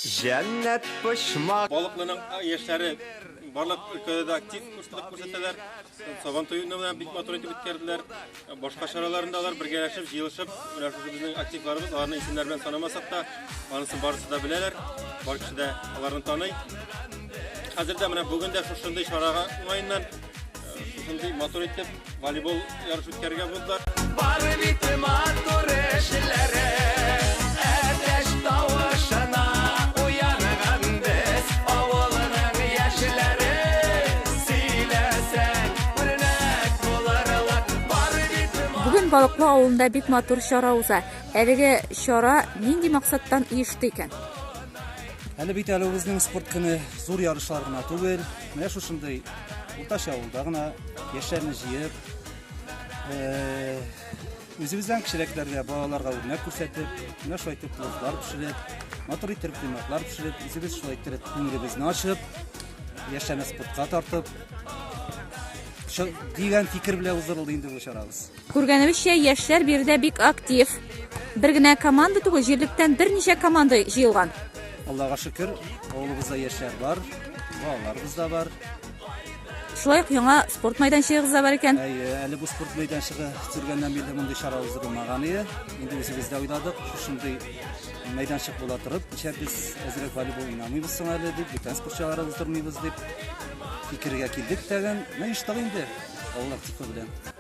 Җәннәт почмак. Балыклының яшьләре барлык өлкәдә дә актив курслык күрсәтәләр. Сабан туюны белән бик матур итеп үткәрделәр. Башка чараларында алар бергәләшеп, җыелышып, менә шушы безнең активларыбыз, аларны исемнәр белән санамасак та, анысын барысы да беләләр. Бар кеше дә аларны таный. Хәзер дә менә бүген дә шушындый чарага уңаеннан Шундый матур итеп волейбол ярыш үткәрергә булдылар. Бары бит матур эшләре, әтәч тавышына уянаган без, авылның яшьләре. Сөйләсәң, үрнәк булырлар, бары бит Бүген Балыклы авылында бик матур чара уза. Әлеге чара нинди максаттан оешты икән? Әле бит әле үзенең спорт көне зур ярышлар гына түгел, Менә шушындый уртача авылда гына яшьләрне җыеп, э, үзебездән кечерәкләргә, балаларга үрнәк күрсәтеп, менә шулай итеп пловлар пешереп, матур итеп кыйммәтләр пешереп, үзебез шулай итеп күңелебезне ачып, яшьләрне спортка тартып, шо- дигән фикер белән уздырылды инде бу чарабыз. Күргәнебезчә, яшьләр биредә бик актив. Бер генә команда түгел, җирлектән берничә команда җыелган. Аллага шөкер, авылыбызда яшьләр бар, балаларыбыз да бар. Шулай ук яңа спорт мәйданчыгыбыз да бар икән. Әйе, әле бу спорт мәйданчыгы төзелгәннән бирле мондый чара уздырылмаган иде. Инде үзебез дә уйладык, шушындый мәйданчык була торып, ничә без әзрәк волейбол уйнамыйбыз соң әле дип, бүтән спорт чаралары уздырмыйбыз дип фикергә килдек тәген. Менә оештык инде, Аллаһ тикле белән.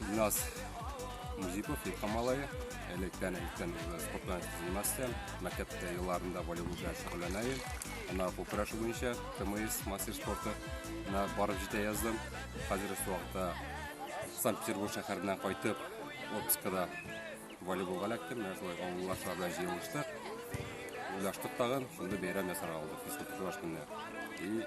Ильназ Музипов, Ильха малае. Электән электән уже спортта заниматься. Мәктәптә елларында волейболда шөгыльләнә идем. Ана бу көрәш буенча ТМС мастер спорты на барып җитә яздым. Хәзер вакытта Санкт-Петербург шәһәреннән кайтып, отпускада волейболга эләктем. Менә шулай авыллашлар белән җыелыштык. Уйлаштык тагын, шунда бәйрәм ясарга булдык. Физкультура көнне. И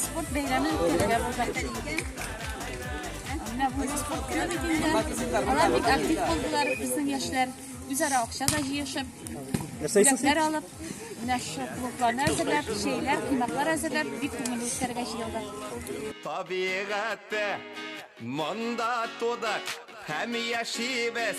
спорт бәйрәме үткәрергә булдык. Менә бу спорт көне бит инде. Алар бик актив булдылар, безнең яшьләр үзара акча да җыешып, бүләкләр алып, менә шу клубларны әзерләп, чәйләр, кунакlar әзерләп, бик күңелле үткәрергә җыелдык. Табигатьтә монда тудык һәм яшибез.